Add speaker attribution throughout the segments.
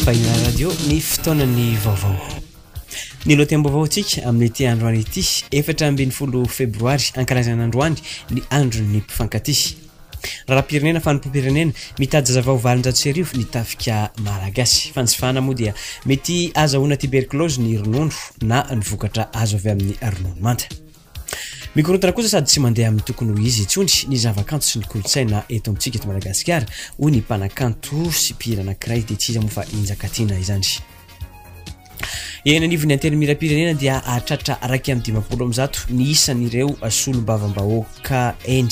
Speaker 1: Fahina Radio ny fotoanan'ny vaovao. Ny lohatenim-baovaontsika amin'ity androany ity, efatra ambin'ny folo febroary ankalazana androany ny andron'ny mpifankatia. Raharaham-pirenena fanompoam-pirenena mitady zazavao valonjato sy arivo ny tafika malagasy. Fanjifana moa dia mety azahoana tuberculose ny ronono na ny vokatra azo avy amin'ny ronono manta. Mikorontana kosa sady tsy mandeha amin'ny tokony ho izy intsony ny zavakanto sy ny kolontsaina eto amintsika eto Madagasikara, hoy ny mpanakanto sy mpihira anankiray, dia tsy iza moa fa i Njakatiana izany. Eny anivon'ny Antenimierampirenena dia hahatratra iraika amby dimampolo amin'ny zato ny isan'ireo solombavambahoaka eny.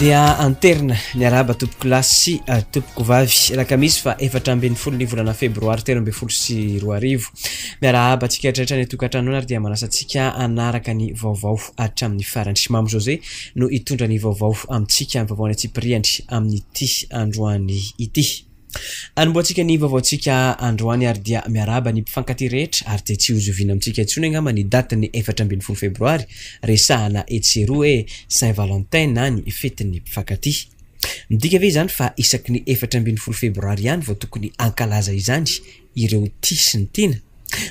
Speaker 1: Dia anterina niarahaba tompoko lahy sy uh, tompoko vavy alakamisy fa efatra ambin'ny folo ny volana febroary telo ambin'ny folo sy roa arivo. Miarahaba antsika rehetra ny tokantranona ary dia manasa antsika anaraka ny vaovao hatramin'ny farany. Mamo José no hitondra ny vaovao amintsika amin'ny vaovao any Tsipiriany amin'ity androany ity. Anombohantsika ny vaovaontsika androany ary dia miarahaba ny mpifankatia rehetra ary dia tsy hozoviana amintsika intsony angamba ny datin'ny efatra ambin'ny folo febroary resahana etsy sy eroa hoe Saint Valentin na ny fetin'ny mpifankatia. Midika ve izany fa isaky ny efatra ambin'ny folo febroary ihany vao tokony hankalaza izany? ireo tia sy ny tiana?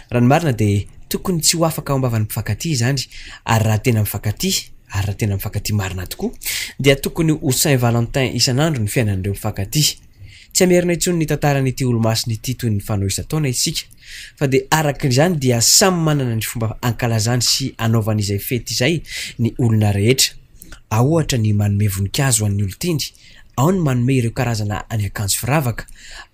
Speaker 1: Raha ny marina dia tokony tsy ho afaka ao am-bavan'ny mpifankatia izany, ary raha tena mifankatia, ary raha tena mifankatia marina tokoa, dia tokony ho Saint Valentin isan'andro ny fiainan'ireo mpifankatia. Tsy hamerina intsony ny tantaran'ity Olomasina ity toy ny fanao isan-taona isika, fa dia araka izany dia samy manana ny fomba ankalazany sy anaovany izay fety izay ny olona rehetra. Ahohatra ny manome voninkazo ho an'ny olon-tiany, ao ny manome ireo karazana ny akanjo firavaka,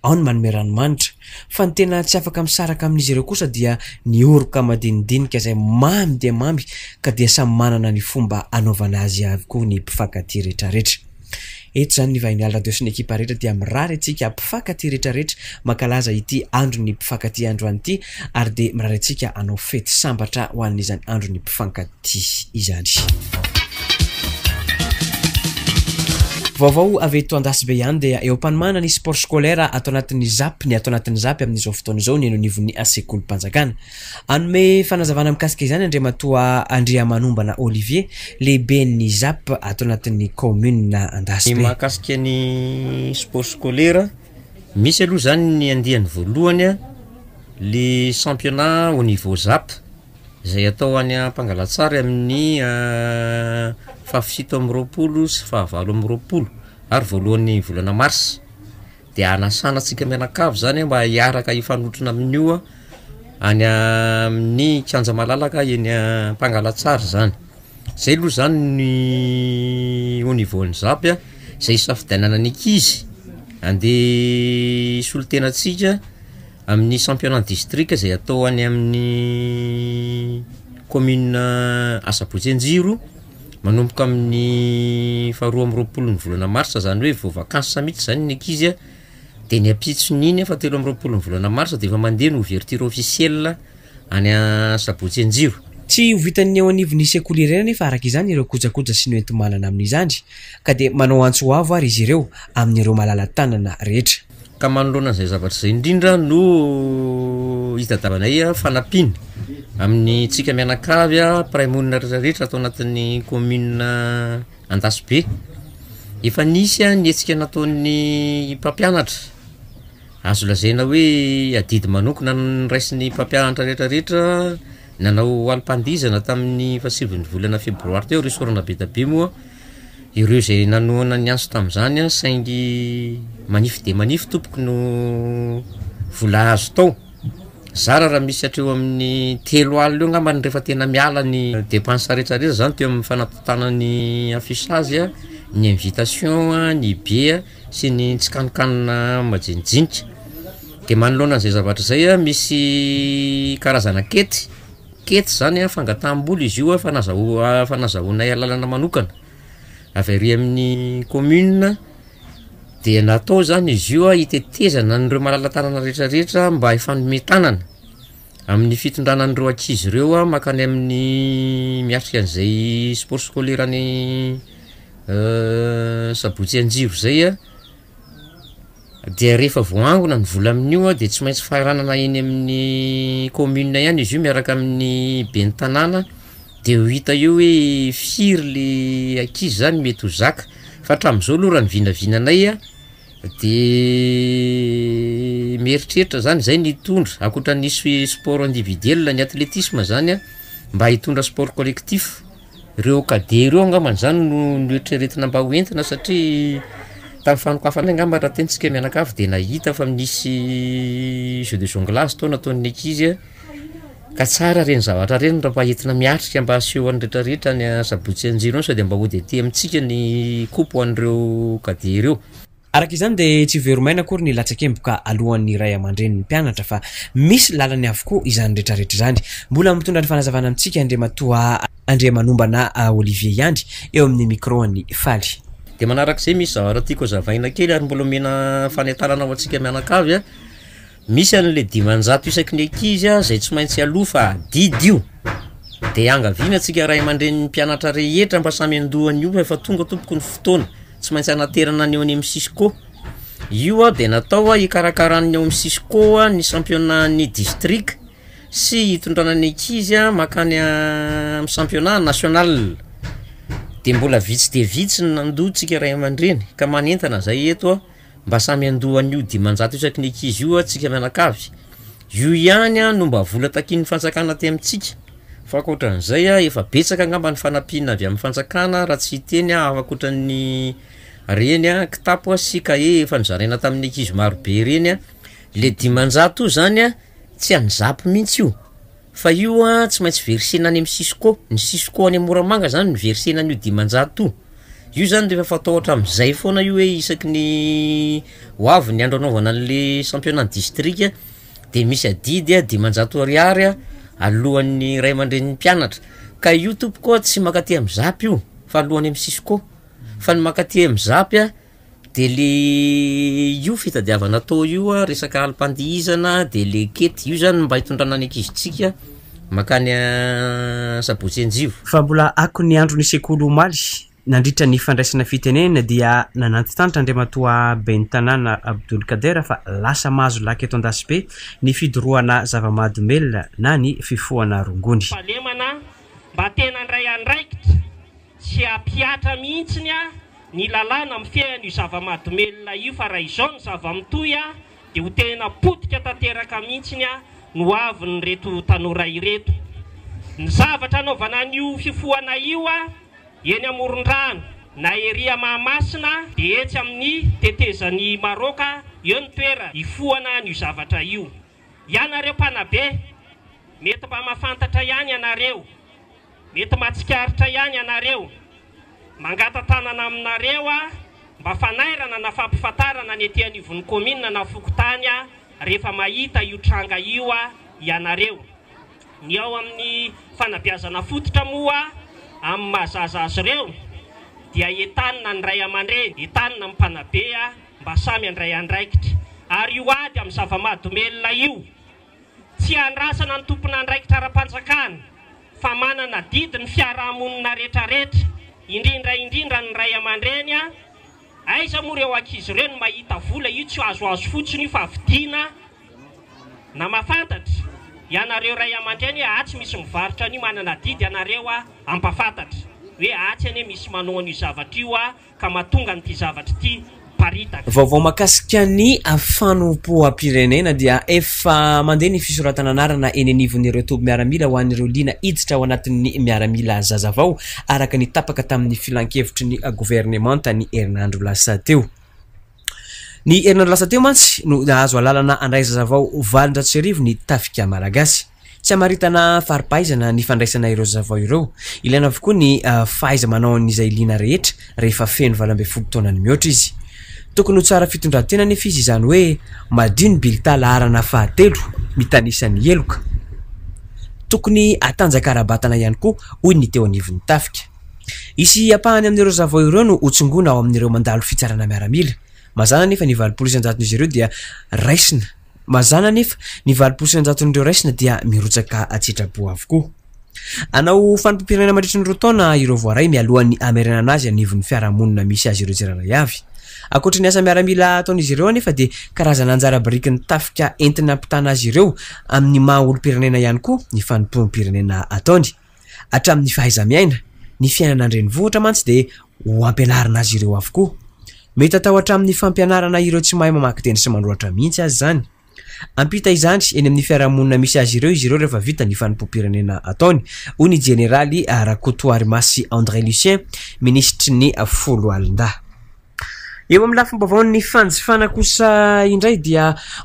Speaker 1: ao ny manome ranomanitra, fa ny tena tsy afaka misaraka amin'izy ireo kosa dia ny oroka madinidinika izay mamy dia mamy ka dia samy manana ny fomba anaovana azy avokoa ny mpifankatia rehetrarehetra. Eto izany ny Vahiniala Radio sy ny ekipa rehetra dia mirary antsika mpifankatia rehetrarehetra mankalaza ity andron'ny mpifankatia androany ity ary dia mirary antsika hanao fety sambatra ho an'izany andron'ny mpifankatia ity izany. Vaovao avy eto Andasibe ihany dia eo am-panomana ny sport scolaire ato anatin'ny ZAP ny ato anatin'ny ZAP amin'izao fotoana izao ny eny anivon'ny sekolim-panjakana. Hanome fanazavana mikasika izany Andriamatoa Andriamanombana Olivier, lehiben'ny ZAP ato anatin'ny kaominina Andasibe. Ny mahakasika ny sport scolaire, misy aloha izany ny andiany voalohany, le championnat au niveau ZAP. izay atao any Ampangalantsary amin'ny fahafito amby roapolo sy fahavalo amby roapolo ary voalohan'ny volana marsa dia hanasana antsika mianakavy zany mba hiaraka hifanotrona amin'io any amin'ny kianja malalaka eny Ampangalantsary zany, zay aloha zany ny au niveau an'ny ZAPP izay hisafidianana ny ankizy handeha hisolo tena antsika. Amin'ny championnat distrika izay atao any amin'ny commune Asabotsy Anjiro, manomboka amin'ny faharoa amby roapolo ny volana marsa izany hoe vao vacances mihitsy izany ny ankizy an, dia ny ampitson'iny an fahatelo amby roapolo ny volana marsa dia efa mandeha ny ouverture officielle any Asabotsy Anjiro. Tsy ho vitan'ny eo anivon'ny sekoly irery anefa araka izany ireo kojakoja sy ny hoenti-manana amin'izany ka dia manao antso avo ary izy ireo amin'ireo malala-tanana rehetra. Ka manoloana an'izay zavatra izay indrindra no hitadiavanay fanampiana amin'ny tsika mianakavy mpiray monina rehetrarehetra ato anatin'ny kaominina Andasibe. Efa nisy ny hetsika nataon'ny mpampianatra, azo lazaina hoe adidy manokana noraisin'ny mpampianatra retraretra nanao alim-pandihizana tamin'ny fahasivy ny volana febroary teo, Resort Anabetabe moa Ireo izay nanohana ny antso tamin'izany saingy manify dia manify tompoko no vola azo tao. Zara raha misy hatreo amin'ny telo alina eo angamba ny rehefa tena miala ny depense rehetra rehetra izany teo amin'ny fanatontana ny affichage, ny invitation, ny bia sy ny tsikanokanona majinijinika. Dia manoloana an'izay zavatra izay misy karazana ankety. Kety izany an, fangataham-bola izy io efa efa nazahoanay alalana manokana avy ary amin'ny commune dia natao izany izy io hitetezana an'ireo malala-tanana rehetrarehetra mba hifanome tanana amin'ny fitondrana an'ireo ankizy ireo mankany amin'ny miatrika an'izay sport scolaire ny sabotsy anjiro izay an. Dia rehefa voaangona ny vola amin'io an, dia tsy maintsy faranana eny amin'ny commune ihany izy io miaraka amin'ny ben'ny tanàna, dia ho hita eo hoe firy le ankizy zany mety ho zaka, fa hatramin'izao aloha raha ny vinavinanay an, de mieritreritra zany zay ny hitondra, ankoatra ny hisy sport individuel ny athletisme zany an, mba hitondra sport collectif. Ireo cadet ireo angamba zany no noeritreretina mba ho entina satria tamin'ny fanokafana angamba raha tena isika mianakavy de nahita fa misy jeux de jonglage tao nataon'ny ankizy an, ka tsara ireny zavatra ireny raha mba entina miatrika mba aseho an'ny retraretra ny asabotsy anjely io sao dia mba hody aty amintsika ny coupe ho an'ireo cadet ireo. Araka izany dia tsy very maina akory ny latsakemboka aloan'ny ray aman-drenin'ny mpianatra fa misy lalany avokoa izany retraretra izany. Mbola mitondra ny fanazavana amintsika Andriamatoa Andriamanombana Olivier ihany eo amin'ny micro-n'i Faly. Dia manarak'izay misy zavatra tiako hazavaina kely ary mbola omena fanentanana ho antsika mianakavy a! Misy anle dimanjato isaky ny ankizy zay tsy maintsy aloa fa adidy io de iangaviana tsika ray amandreny ny mpianatra rehetra mba samy andoa anio fa efa tonga tompoko ny fotoana tsy maintsy anaterana ny eo any amin'ny cisco io a de natao a hikarakaran'ny eo amin'ny cisco a ny championnat-n'ny distrika sy hitondrana ny ankizy a makany amin'ny championnat national de mbola vitsy dia vitsy ny nandoa tsika ray amandreny ka manentana zay eto a. Mba samy handoa an'io dimanjato isaky ny ankizy io tsika mianakavy. Io ihany no mba vola takian'ny fanjakana aty amintsika. Fa ankoatran'izay, efa betsaka angamba ny fanampiana avy amin'ny fanjakana raha tsy hiteny aho hafa ankoatran'ny reny kitapo sy kahie efa nozaraina tamin'ny ankizy marobe reny. Le dimanjato io zany tsy an'i Zap mihitsy io Fa io an tsy maintsy versena any am cisco, ny cisco any moramanga zany no versena an'io dimanjato io, io zany refa fataotra amzay foana io hoe isaky ny ho avy ny andro anaovana anle championnat ny distrika de misy adidy a dimanjato ariary a alohan'ny ray aman-drenin'ny mpianatra, ka io tompoko an tsy mankaty am zap io fa aloany am cisco, fa ny mankaty am zap an Dia le io fitadiavana atao io an, resaka alim-pandihizana dia le kety, io zany mba hitondrana ny ankizintsika makany Sabotsy Anjivo. Fa mbola ako ny andron'ny sekoly omaly, nandritra ny fandraisana fitenenana dia nanantitrantitra Andriamatoa Ben'ny Tanàna Abdoulkader fa lasa mahazo laka eto Andasibe ny fidorohana zava-mahadomelina na ny fifohana rongony. Fahalemana mba tena handray andraikitra. Tsy hampihatra mihitsiny ny lalàna mifehy an'io zava-mahadomelina io fa raha izao ny zava-mitohy dia ho tena potika tanteraka mihitsiny ny ho avin'ireto tanora ireto. Ny zavatra anaovana an'io fifohana io eny amoron-drano na ery Mahamasina dia etsy amin'ny tetezan'i Maroka eo ny toerana hifohana an'io zavatra io. Ianareo mpanabe, mety mba mahafantatra ihany ianareo Mety matsikaritra ihany ianareo. Mangata-tanana aminareo aho mba fanairana na fampifantarana ny ety anivon'ny kaominina na fokontany rehefa mahita io tranga io ianareo. Ny ao amin'ny fanabeazana fototra moa amin'ny maha zaza azy ireo dia entanina ny ray aman-dreny, entanina ny mpanabe mba samy handray andraikitra. Ary io ady amin'ny zava-mahadomelina io. Tsy andrasana ny tompon'andraikitra ara-panjakana fa manana didy ny fiarahamonina retraretra, indrindra indrindra ny ray aman-dreny a! Aiza moa ireo ankizy ireo no mahita vola io tsy azoazo fotsiny io fa vidiana na mahafantatra ianareo ray aman-dreny hoe atsy misy mivarotra an'io manana didy ianareo a! ampafantatra hoe atsy anie misy manao an'io zavatra io a! ka mahatonga an'ity zavatra ity miparitaka. Vaovao mahakasika ny fanompoam-pirenena dia efa mandeha ny fisoratana anarana eny anivon'ireo toby miaramila ho an'ireo liana hiditra ao anatin'ny miaramila zazavao araka ny tapaka tamin'ny filankevitry ny governemanta ny herinandro lasa teo. Ny herinandro lasa teo mantsy no nahazo alalana handray zaza vao valon-jato-sy-arivo ny Tafika Malagasy. Tsy hamaritana fari-pahaizana ny fandraisana ireo zaza vao ireo. Ilaina avokoa ny fahaiza-manaon'izay liana rehetra rehefa feno valo ambin'ny folo taona ny mihoatra izy. Tokony ho tsara fitondran-tena anefa izy izany hoe madio ny bilta laharana fahatelo mitanisa ny heloka. Tokony hatanjaka ara-batana ihany koa, hoy ny teo anivon'ny Tafika. Hisy ampahany amin'ireo zavao ireo no hotsongoina ao amin'ireo mandalo fitsarana miaramila. Mazàna anefa ny valopolo isan-jaton'izy ireo dia raisina. Mazàna anefa ny valopolo isan-jaton'ireo raisina dia mirotsaka an-tsitrapo avokoa. Hanao fanipampirenena mandritry ny roa taona ireo voaray mialohan'ny hamerenana azy anivon'ny fiarahamonina misy azy ireo tsirairay avy. Ankoatry ny asa miaramila ataon'izy ireo anefa dia karazana anjara birikin'ny tafika entina hampitana azy ireo amin'ny maha olom-pirenena ihany koa ny fanompoam-pirenena ataony. Hatramin'ny fahaiza-miaina, ny fiainana an-drenivohitra mantsy dia ho ampianarina azy ireo avokoa. Mety atao hatramin'ny fampianarana ireo tsy mahay mamaky teny sy manoratra mihitsy aza izany. Hampita izany eny amin'ny fiarahamonina misy azy ireo izy ireo rehefa vita ny fanompoam-pirenena ataony, hoy ny jeneraly Rakotoarimasy André Lucien, minisitry ny Foloalindahy. Eo amin'ny lafim-baovaon'ny fanjifana kosa indray dia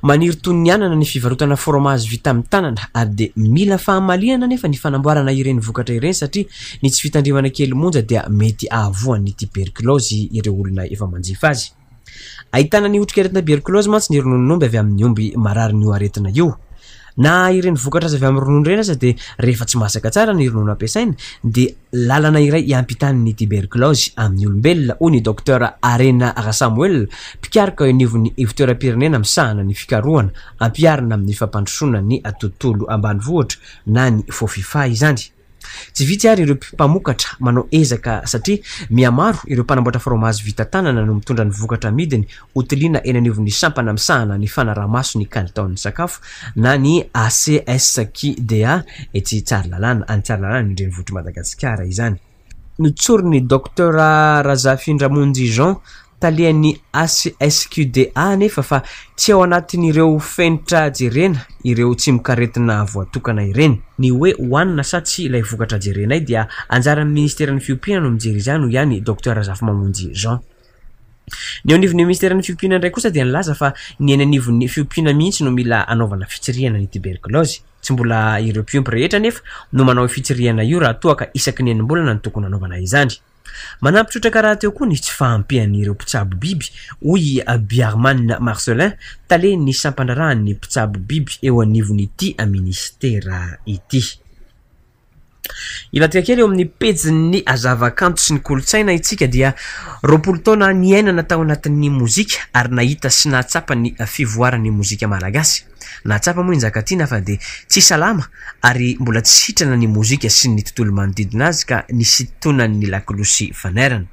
Speaker 1: maniry toy ny anana ny fivarotana fromazy vita amin'ny tanana ary dia mila fahamaliana anefa ny fanamboarana ireny vokatra ireny satria ny tsy fitandremana kely monja dia mety ahavoan'ny tiberkilaozy ireo olona efa manjifa azy. Ahitana ny otrikaretina berkilaozy mantsy ny rononon'omby avy amin'ny omby mararin'io aretina io. Na ireny vokatra azo avy amin'ny ronono ireny aza dia rehefa tsy masaka tsara ny ronono ampiasaina dia lalana iray hiampitan'ny tiberkilaozy amin'ny olombelona, hoy ny Dokotera Harena Rasamoel, mpikaroka eo anivon'ny Ivontoeram-pirenena misahana ny fikarohana ampiharina amin'ny fampandrosoana ny tontolo ambanivohitra na ny Fofifa izany. Tsy vitsy ary ireo mpamokatra manao ezaka satria mihamaro ireo mpanamboatra fromazy vita tanana no mitondra ny vokatra amidiny ho tiliana eny anivon'ny sampana misahana ny fanaraha-maso ny kalitaon'ny sakafo na ny ACSQDA etsy Tsaralalàna, any Tsaralalàna ny renivohitr'i Madagasikara izany. Notsorin'ny Docteur Razafindramonjy Jean, Talehan'ny HSQDA anefa fa tsy ao anatin'ireo fenitra jerena ireo tsimokaretina voatokana ireny. Ny hoe hohanina sa tsia ilay vokatra jerenay dia anjaran'ny Ministeran'ny Fiompiana no mijery izany, hoy ihany i Docteur Razafimamonjy Jean. Ny eo anivon'ny Ministeran'ny Fiompiana indray kosa dia nilaza fa ny eny anivon'ny fiompiana mihitsy no mila anaovana fitsirihana ny tiberkilaozy. Tsy mbola ireo mpiompy rehetra anefa no manao io fitsirihana io raha toa ka isaky ny enim-bolana no tokony hanaovana izany. Manampy trotraka rahateo koa ny tsy fahampian'ireo mpitsabo biby, hoy i Biarman Marcelin, talen'ny sampandraharahan'ny mpitsabo biby eo anivon'ity minisitera ity. Hivadika kely eo amin'ny pejin'ny zavakanto sy ny kolontsaina isika dia roapolo taona niainana tao anatin'ny mozika ary nahita sy nahatsapa ny fivoaran'ny mozika malagasy. Nahatsapa moa i Njakatiana fa dia tsy salama ary mbola tsy sitrana ny mozika sy ny tontolo manodidina azy ka nisintonany ny lakolosy fanairana.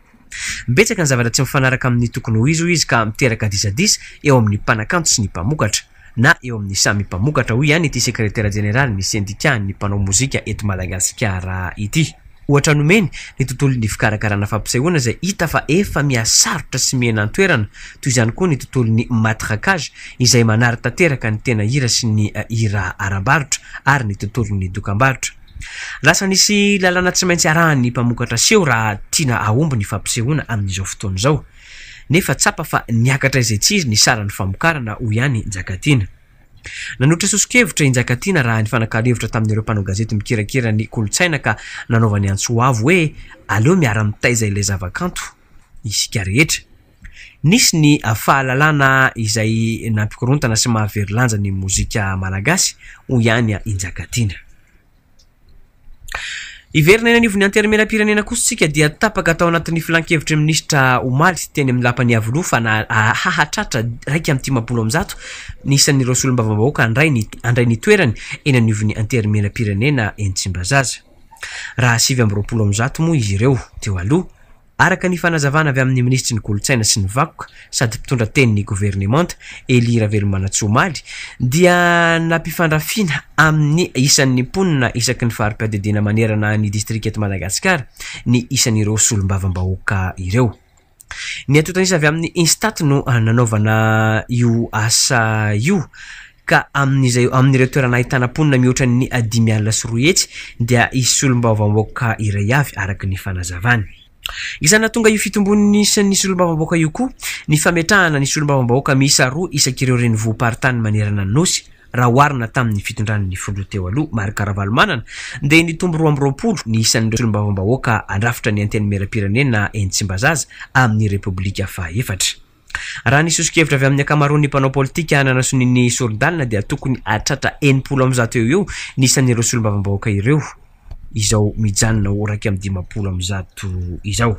Speaker 1: Betsaka ny zavatra tsy mifanaraka amin'ny tokony ho izy hoy izy ka miteraka disadisa eo amin'ny mpanakanto sy ny mpamokatra na eo amin'ny samy mpamokatra, hoy ihany ity sekretera jeneralin'ny sendikàn'ny mpanao mozika eto Madagasikara ity. Ohatra nomeny, ny tontolon'ny fikarakarana fampisehoana izay hita fa efa mihasarotra sy mihena an-toerana, toy izany koa ny tontolon'ny matraquage izay manary tanteraka ny tena hira sy ny hira ara-barotra ary ny tontolon'ny dokambarotra. Lasa nisy lalàna tsy maintsy arahan'ny mpamokatra seho raha tiana hahomby ny fampisehoana amin'izao fotoana izao. Nefa tsapa fa niakatra izay tsiry ny saran'ny famokarana, hoy ihany Njakatiana. Nanohitra soso-kevitra i Njakatiana raha nifanakalo hevitra tamin'ireo mpanao gazety mikirakira ny kolontsaina ka nanaovany antso ho avo hoe aleo miara-mitaiza ilay zavakanto isika rehetra. Nisy ny fahalalana izay nampikorontana sy maha very lanja ny mozika malagasy, hoy ihany i Njakatiana. Hiverina eny anivon'ny Antenimierampirenena kosa isika dia tapaka tao anatin'ny filankevitry ny minisitra omaly teny amin'ny lapan'ny Iavoloha fa na hahatratra iraika amby dimampolo amby zato ny isan'ireo solombavambahoaka handray ny handray ny toerany eny anivon'ny Antenimierampirenena eny Tsimbazaza. Raha sivy amby roapolo amby zato moa izy ireo teo aloha Araka ny fanazavana avy amin'ny minisitry ny Kolontsaina sy ny vakoka sady mpitondra tenin'ny governemanta, Elie Ravelomanantsoa omaly, dia nampifandrafiana amin'ny isan'ny mponina isaky ny fari-piadidiana manerana ny distrika eto Madagasikara ny isan'ireo solombavambahoaka ireo. Ny antontanisa avy amin'ny Instat no nanaovana io asa io ka amin'izay amin'ireo toerana ahitana mponina mihoatra ny dimy alina sy roa hetsy dia hisy solombavambaoka iray avy, araka ny fanazavany. Isan'ny nahatonga io fitombon'ny isan'ny solombavambaoka io koa ny fametrahana ny solombavambahoaka miisa roa isak'ireo renivohi-paritany manerana ny Nosy, raha oharina tamin'ny fitondran'ny filoha teo aloha Marc Ravalomanana dia nitombo roa amby roapolo ny isan'ireo solombavambahoaka handrafitra ny Antenimierampirenena eny Tsimbazaza amin'ny Repoblika fahaefatra. Raha ny soso-kevitra avy amin'ny ankamaroan'ny mpanao politika hanana sonia ny sori-dalana dia tokony hahatratra enimpolo amin'ny zato eo ho eo ny isan'ireo solombavambahoaka ireo izao mijanona ho iraika amby dimampolo amin'ny zato izao.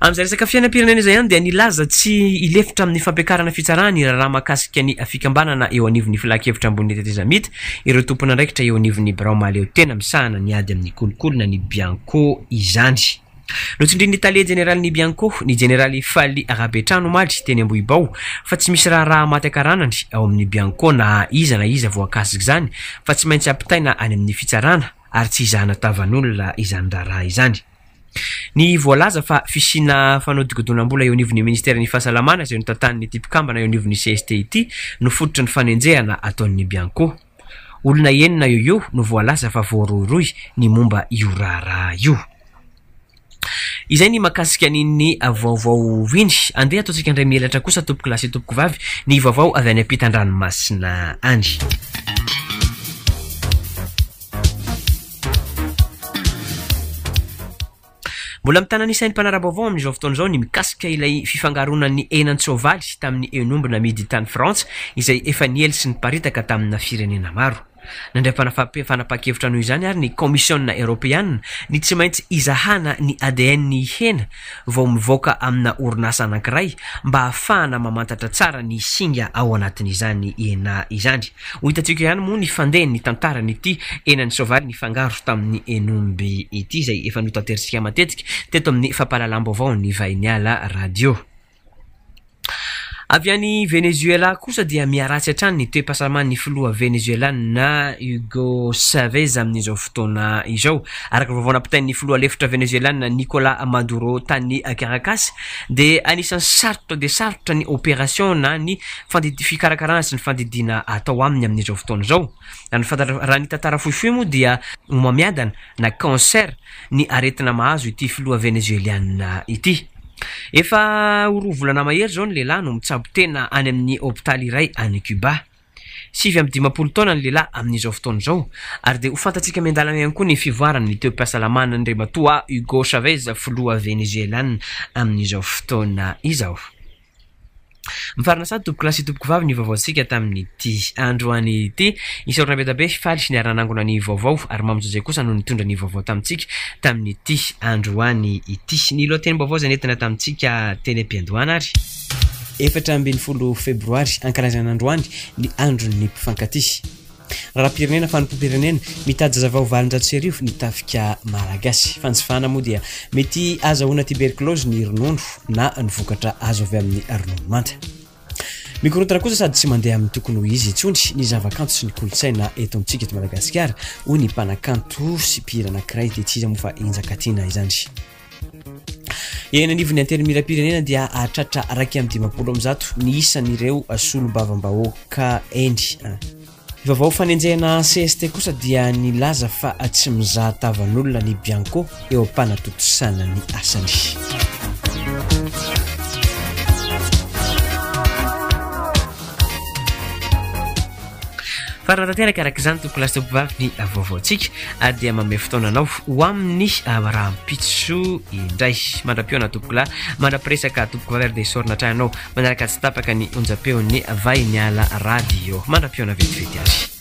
Speaker 1: Amin'izay resaka fiainam-pirenena izay ihany dia nilaza tsy hilefitra amin'ny fampiakarana fitsarana ny raharaha mahakasika ny fikambanana eo anivon'ny Filankevitra Ambony Tetezamita ireo tompon'andraikitra eo anivon'ny birao mahaleotena misahana ny ady amin'ny kolikoly na ny Bianco izany. Notsindrin'ny tale jeneralin'ny Bianco, ny jeneraly Fally Rabetrano omaly, teny Ambohibao, fa tsy misy raharaha maty ankaranany ao amin'ny Bianco na iza na iza voakasik'izany fa tsy maintsy ampitaina any amin'ny fitsarana ary tsy izahana tavan'olona izany raharaha izany. Ny voalaza fa fisiana fanodikodinam-bola eo anivon'ny ministeran'ny Fahasalamana izay notantanin'ity mpikambana eo anivon'ny cst ity no fototry ny fanenjehana ataon'ny Bianco. Olona enina eo eo no voalaza fa voarohirohy ny momba io raharaha io. Izay ny makasika an'iny vaovao iny. Andeha ataontsika indray mihelatra kosa tompoko lahy sy tompoko vavy ny vaovao avy any ampitan-dranomasina any. Mbola mitana ny sain'ny mpanara-baovao amin'izao fotoana izao ny mikasika ilay fifangaroanan'ny henan-tsoavaly tamin'ny hen'omby namidy tany Frantsa izay efa niely sy niparitaka tamina firenena maro. Nandray fanapahan-kevitra noho izany ary ny Kaomisiona Eoropeana ny tsy maintsy hizahana ny ADN-ny hena vao mivoaka amina orinasa anankiray mba hahafahana mamantatra tsara ny singa ao anatin'izany hena izany. Ho hitantsika ihany moa ny fandehan' ny tantaran' ity henan' ny soavaly nifangaro tamin' ny henomby ity, izay efa notanterisika matetika teto amin' ny fampahalalam-baovao ny Vahiniala Radio. Avy any Venezoelà kosa dia miharatsy hatrany ny toe-pahasalaman' ny filoha venezoelàna Hugo Chavez amin' izao fotoana izao. Araka ny vaovao nampitainy ny filoha lefitra venezoelàna Nicolà Maduro tany Caracas dia anisan' ny sarotra dia sarotra ny ôperasiôna ny fandidy fikarakarana sy ny fandidiana atao aminy amin'izao fotoana izao. Raha ny fantatra, raha ny tantara fohifohy moa dia homamiadana na cancer ny aretina mahazo ity filoha Venezueliana ity. Efa ho roa volana mahery izao ny lehilahy no mitsabo tena any amin'ny hopitaly iray any Cuba. Sivy amby dimampolo taona ny lehilahy amin'izao fotoana izao ary dia ho fantatsika miandalana ihany koa ny fivoarany ny toe-pahasalamana Andriamatoa Hugo Chavez filoha Venezueliana amin'izao fotoana izao. Mifarana sady tompokolahy sy tompokovavy ny vaovaontsika tamin'ity androany ity. Isaorana be dia be faly sy niara nanangona ny vaovao ary Mamy Jose kosa no nitondra ny vaovao tamintsika tamin'ity androany ity. Ny lohatenim-baovao izay nentina tamintsika teny am-piandohana ary. Efatra ambin'ny folo febroary, ankalazana androany ny andron'ny mpifankatia. Raharaham-pirenena, fanompoam-pirenena, mitady zaza vao valonjato sy arivo ny tafika malagasy. Fanjifana moa dia mety ahazahoana tiberkilaozy ny ronono na ny vokatra azo avy amin'ny ronono manta. Mikorontana kosa sady tsy mandeha amin'ny tokony ho izy intsony ny zavakanto sy ny kolontsaina eto amintsika eto Madagasikara, hoy ny mpanakanto sy mpihira anankiray, dia tsy iza moa fa i Njakatiana izany. Eny anivon'ny antenimierampirenena dia hahatratra iraika amby dimampolo amin'ny zato ny isan'ireo solombavambahoaka eny. Ny vaovao fanenjehana CST kosa dia nilaza fa tsy mizaha tavan'olona ny Bianco eo am-panatontosana ny asany. Farany tanteraka araka izany tompoko lasa mpivavy ny vaovaontsika dia manome fotoana anao ho amin'ny rahampitso indray mandra-pihaona tompoko lahy mandra-piresaka tompoko vavy ary dia sorona hatrany anao manaraka tsy tapaka ny onjam-peon'ny vahiny ala radio mandra-pihaona vetivety ary